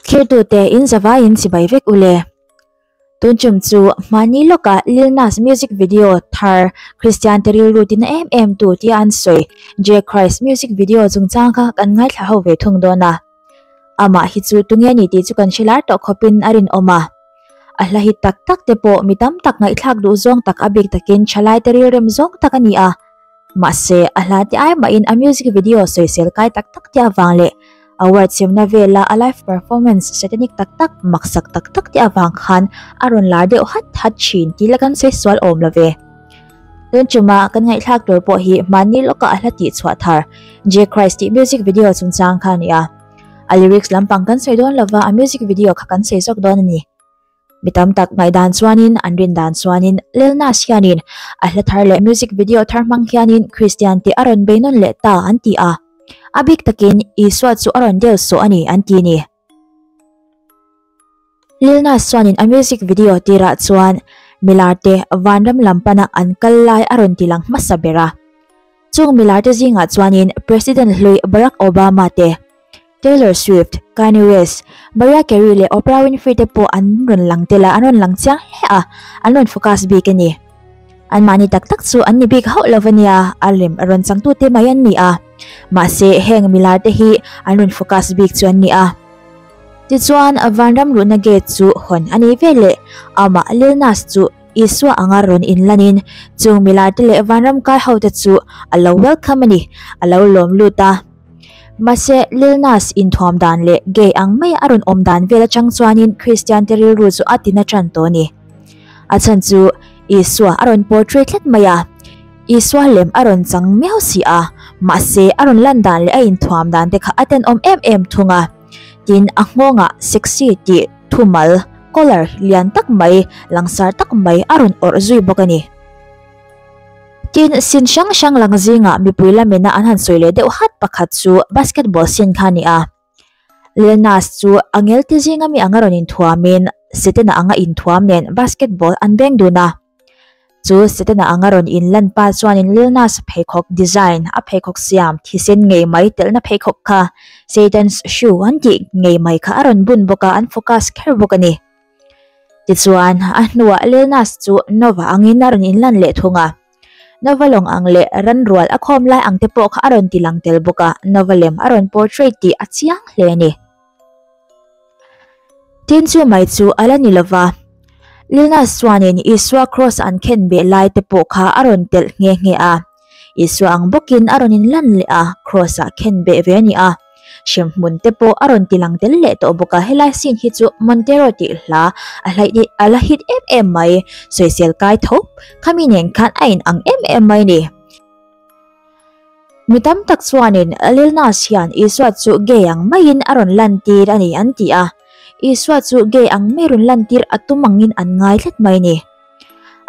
Thirtute inzavai in sibai vek ule. Tunchum chu mani loka Lil Nas music video thar Christian te rilru tina em em tu tia an sawi. J Christ music video chungchang kha kan ngaithla ho ve thung dawn a. Amah hi chu tunge ni tih chu kan hre lar tawh khawpin a rinawm a. A hla hi tak tak te pawh mi tam tak ngaihthlak duh zawng tak a bik takin tha laite rilrem zawng tak a ni a. Mahse, a hla te ai mahin a music video sawisel kai tak tak te avang leh award siamna vela a live performance satanic tak tak, maksak tak tak te avang khan a rawn lar deuh hat hat thin tih la kan sawi sual awm lo ve. Tun ṭuma kan ngaihthlak tur pawh hi mahni lawkah a hla tih chhuah thar Jay Christ tih music video a chungchang kha a ni a. A lyrics lampang kan sawi dawn lova a music video kha kan sawi zawk dawn a ni. Mi tam tak ngaihdan chuanin an rindan chuanin Lelnas hianin a hla thar leh music video thar hmang hianin Kristian tih a rawn bei nawn leh ta an ti a. A bik takin Isua chu a rawn deuh suh a ni an ti a ni. Lil Nas chuanin a music video tirah chuan Milarte Vanram lam pana an kal lai a rawn ti lang hmasa ber a. Chung Milarte zingah chuanin President hlui Barack Obama te, Taylor Swift, Kanye West, Mariah Carey leh Oprah Winfrey te pawh an rawn lang tel a, an rawn lang chiang hle a, an rawn focus bik a ni. Anmahni tak tak chu an ni bik hauh lo va nia, a lem a rawn chang tute mai an ni a, mahse heng milar te hi an rawn focus bik chu an ni a. Tichuan Vanram luhna gate chu hawn a nei vel le, amah Lilnas chu Isua anga rawn in lan in chung milar te leh Vanram kai ho te chu a lo welcome a ni, a lo lawm lut a. Mahse, Lilnas inthuam dan leh gay ang mai a rawn awm dan vel atang chuanin Kristiante rilru chu a tin a tan tawh a ni. A chhan chu Isua a rawn portray tlat mai a, Isua lem a rawn chang miau si a, mahse, a rawn lan dan leh a inthuam dan te kha a tenawm em em thung a. Tin, a nghawngah sexy tih thumal, color, lian tak mai, langsar tak mai a rawn awrh zui bawk a ni. Tin, sin hrang hrang lang zingah mipui la mena an han sawi leh deuh hat pakhat chu basketball sin kha a ni a. Lil Nas chu a ngelte zing ami anga rawn inthuamin Setena anga inthuam nen basketball an beng dun a. Chu Setena anga rawn inlan pa chuanin Lil Nas pheikhawk design, a pheikhawk siam thisen ngei mai telhna pheikhawk kha Satan's Shoe an tih ngei mai kha a rawn bun bawk a, an focus kher bawk a ni. Tichuan, a hnuah Lenas chu Nova angin a rawn inlan leh thung a. Nova lawng ang leh ran rual a khawm lai ang te pawh kha a rawn ti lang tel bawk a, Nova lem a rawn portrait tih a chiang hle a ni. Tin chumai chu a la ni lo va, Lenas chuanin Isua Kraws an khenbeh lai te pawh kha a rawn telh nghe nghe a. Isua ang bawkin a rawn inlan leh a, Kraws-ah khen beh ve a ni a. Hrem hmun te pawh a rawn ti lang tel leh tawh bawk a, helai scene hi chu Montero tih hla a hlaih hi a la hit em em mai, sawisel kai tho khami nen khan a in ang em em mai ni. Mi tam tak chuanin Lil Nas hian Isua chu gay ang maiin a rawn lantir a ni an ti a, Isua chu gay ang mai rawn lantir a tum angin an ngai tlat mai ni.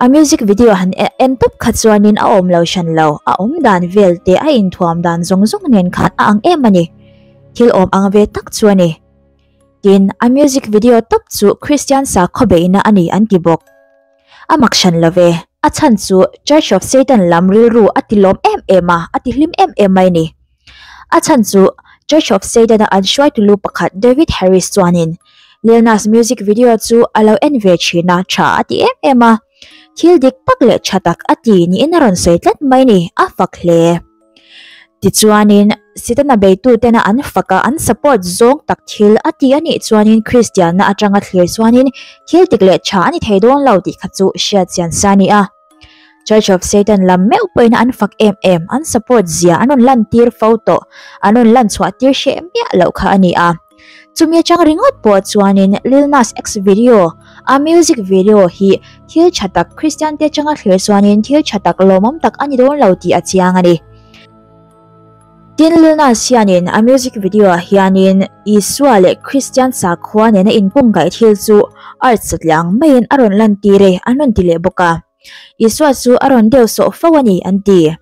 A music video han en tawp kha chuanin a awmlo hran lo, a awmdan velte a inthuam dan zawng zawng nen khan a ang em a ni. Thil awm ang ve tak chu a ni. Tin, a music video tawp chu Kristian sakhaw beihna a ni an ti bawk. A mak hran lo ve, a chhan chu Church of Satan lam rilru a ti lawm em em a, a ti hlim em em mai a ni. A chhan chu Church of Satan-a an hruai tulu pakhat David Harris chuanin Lil Nas music video chu a lo en ve thin a, Tha a ti em em a, thil dik tak leh tha tak a ti niin a rawn sawi tlat mai ni, a fak hle. Tichuanin Satan-a beitu tena an faka an support zawng tak thil a ti a nih chuanin Kristianna atanga thlir chuanin thil dik leh tha a ni thei dawn lo tih kha chu hriatchian sa a ni a. Church of Satan lam meuh pawhin an fak em em, an support zia, an rawn lan tir fo tawh, an rawn lan chhuah tir hre miah loh kha a ni a. Chumi atang ringawt pawh chuanin Lil Nas X video, a music video, hi thil tha tak Kristiante atanga thlir chuanin thil tha tak lawmawm tak a ni dawn lo tih a chiang a ni. Tin, Lil Nas hianin a music video-ah hianin Isua leh Kristian sakhua nena inkawngkaih thil chu art satliang maiin a rawn lantir e, an rawn ti leh bawk a. Isua chu a rawn deuh sawh fo a ni, an ti.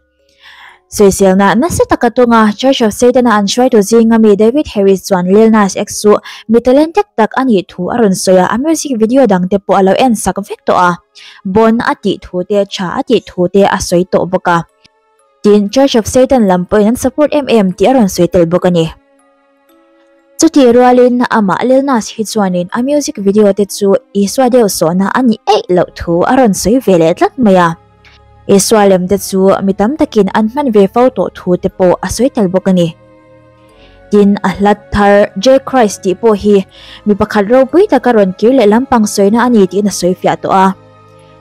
Sawiselna, Nasa taka tawnga Church of Satan-a an hruai tur zing ami David Harris chuan Lil Nas X chu mi talent dek tak a nih thu a rawn sawi a, a music video dangte pawh a lo en sak vek tawh a, Born a tih thute, Tha a tih thute a sawi tawh bawk a. tin Church of Satan lam pawhin an support em em tih a rawn sawi tel bawk a ni. Chutih rualin amah Lil Nas hi chuanin a music video te chu Isua deuh sawhna a ni eih loh thu a rawn sawi ve leh tlat mai a. Isua lem te chu mi tam takin an hman ve fo tawh thu te pawh a sawi tel bawk a ni. Tin a hlat thar Jay Christ tih pawh hi mi pakhat ropui taka rawn kir leh lampang sawina a ni tiin a sawi fiah tawh a.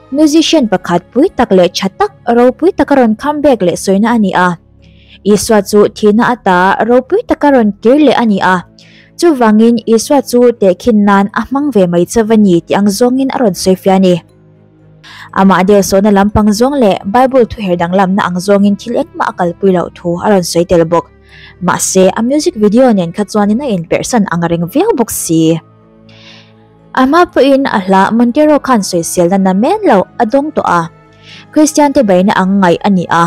Musician pakhat pui tak leh tha tak ropui taka rawn comeback leh sawina a ni a. Isua chu thihna ata ropui taka rawn kir leh a ni a. Chuvangin Isua chu tehkhin nan a hmang ve mai che va ni tih ang zawngin a rawn sawifiah a ni. Amah deuhsawhna lampang zawng leh Bible thuher danglamna ang zawngin thil engmah a kalpui loh thu a rawn sawi tel bawk. Mahse, a music video nen kha chuanin a inperhsan ang reng viau bawk si. Ama pawhin a hla Montero khan sawisil na na men lo a dawng tawh a, Kristiante beina ang ngaih a ni a.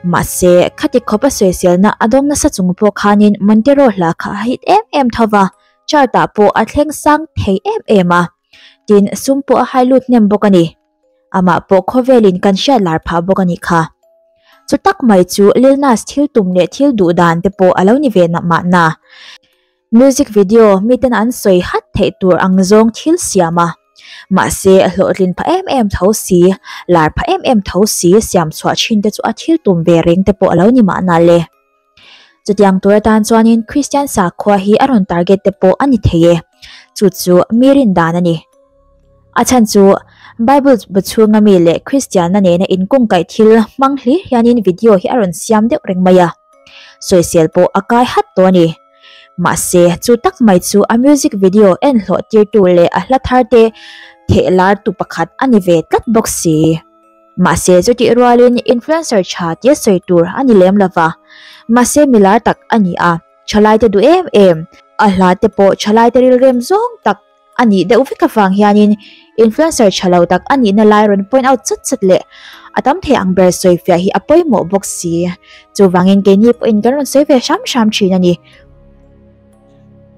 Mahse, khati khawpa sawisilna a dawng nasa chung pawh khanin Montero hla kha a hit em em tho va, chart ah pawh a thleng sang thei em em a. Tin, sum pawh a hai lut hnem bawk a ni. Amah pawh khawvelin kan hriat lar phah bawk a nih kha. Chu tak mai chu Lilnas thil tum leh thil duh dan te pawh a lo ni ve mah na. Music video miten an sawi hat theih tur ang zawng thil siam a, mahse a hlawhtlin pha em em tho si, lar pha em em tho si siam chhuah thin te chu a thil tum ve reng te pawh a lo ni mahna le. Chutiang tur atan chuanin Kristian sakhua hi a rawn target te pawh a ni thei e, chu chu mi rindan a ni. A chhan chu Bible bu chhunga mi leh Kristianna nena in kawngkaih thil hmang hlir hianin video hi a rawn siam deuh reng mai a, sawisel pawh a kai hat tawh a ni. Mahse, chu tak mai chu a music video en hlawhtirtu leh a hla thar te thehlartu pakhat a ni ve tlat bawk si. Mahse, chutih rualin influencer tha tia sawi tur a ni lem lo va. Mahse, mi lar tak a ni a, tha laite duh em em, a hla te pawh tha laite rilrem zawng tak. a nih deuh vek avang hianin influencer tha lo tak a nihna lai a rawn point out sat sat leh a tam thei ang ber sawi fiah hi a pawimawh bawk si. Chuvangin keini pawhin kan rawn sawi ve hram hram thin a ni.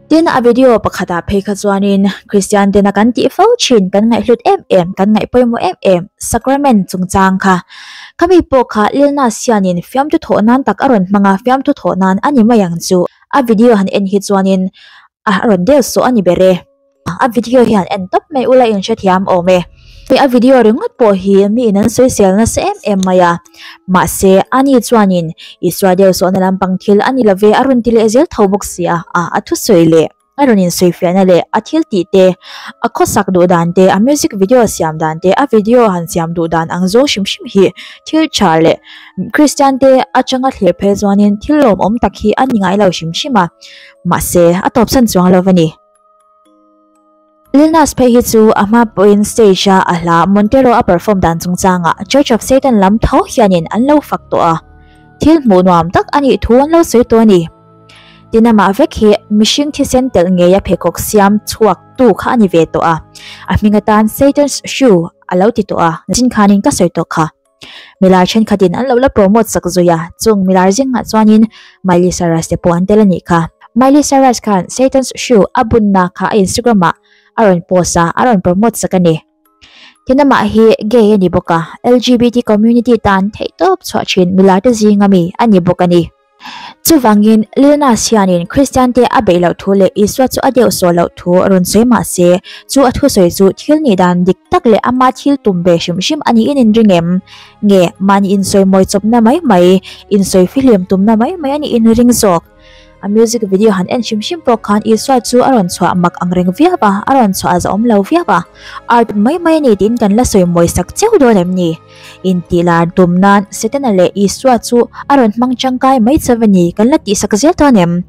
Tin, a video pakhatah phei kha chuanin Kristian tena kan tih fo thin, kan ngaihhlut em em, kan ngaih pawimawh em em sacrament chungchang kha. Khami pawh kha Lilna sianin fiamthu thawh nan tak a rawn hmang a, fiamthu thawh nan a ni mai ang chu. A video han en hi chuanin a rawn del suah a ni ber e. A video hian en tawp mai ula inhrethiam awm e. Hei a video ringawt pawh hi mi in an soisel nasa em em mai a. Mahse a ni chuanin Isua del suahna lampang thil a ni lo ve a rawn ti leh zel tho bawk si a. A a thusawi leh a rawn insawifiahna leh a thiltih te, a khawsak duh dan te, a music video siam dan te, a video han siam duh dan ang zawng hrim hrim hi thil tha leh Kristiante atanga thlir phei chuanin thil lawmawm tak hi a ni ngai lo hrim hrim a. Mahse, a tawpsan chuang lo a ni. Lil Nas phei hi chu a hma pawhin stage a a hla, Montero a perform dan chungchanga Church of Satan lam tho hianin an lo fak tawh a, thil hmuh nuam tak a nih thu an lo sawi tawh a ni. Tin amah vek hi mihring thisen telh ngeia pheikhawk siam chhuak tu kha a ni ve tawh a, a hming atan Satan's Shoe a lo ti tawh a, nasin khanin ka sawi tawh kha. Milar thenkhatin an lo la promote sak zawih a, chung milar zingah chuanin Miley Cyrus te pawh an tel a nih kha. Miley Cyrus khan Satan's Shoe a bunna kha a Instagram-ah a rawn post a, a rawn promote sak a ni. Tinamah hi gay a ni bawk a, LGBT community tan theih tawp chhuah thin milar te zinga mi a ni bawk a ni. Chuvangin, Lilnas hianin Kristiante a beih loh thu leh Isua chu a deuh sawi loh thu a rawn sawi mah se, chu a thusawi chu thil nih dan dik tak leh ama thil tum ve hrim hrim a niin in ring em? Nge mahni insawi mawichawpna mai mai, insawi fihliam tumna mai mai a nih in ring zawk? A music video han en hrim hrim pawh khan Isua chu a rawn chhuah mak ang reng viau a, a rawn chhuah a zahawm lo viau a, art mai mai a ni tiin kan la sawi mawisak cheu dawn em ni? Intih lar tum nan Setana leh Isua chu a rawn hmang tangkai mai che va ni kan la tih sak zel tawn em?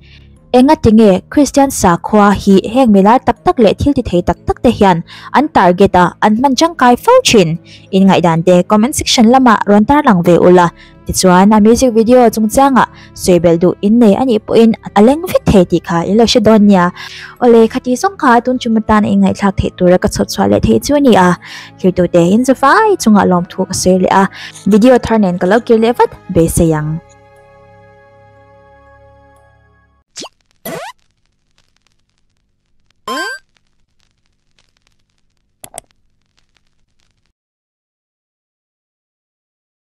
Enga tinge Kristian sakhua hi heng milar tak tak leh thil tithei tak tak te hian an target a an hman tangkai fo thin? Inngaihdante comment section lamah rawn tarlang ve ula. Tichuan a music video chung chiangah sawi belh duh in nei anih pawhin a leng vek thei tih kha in lo hre dawn nia. Awle khati zawng kha tun tum atan i ngaihthlak theih tur a ka chhawp chhuah leh thei chu a ni a. Thirtu te in za vai chungah lawmthu ka sawi leh a, video thar nen ka lo kir leh vat beisei ang.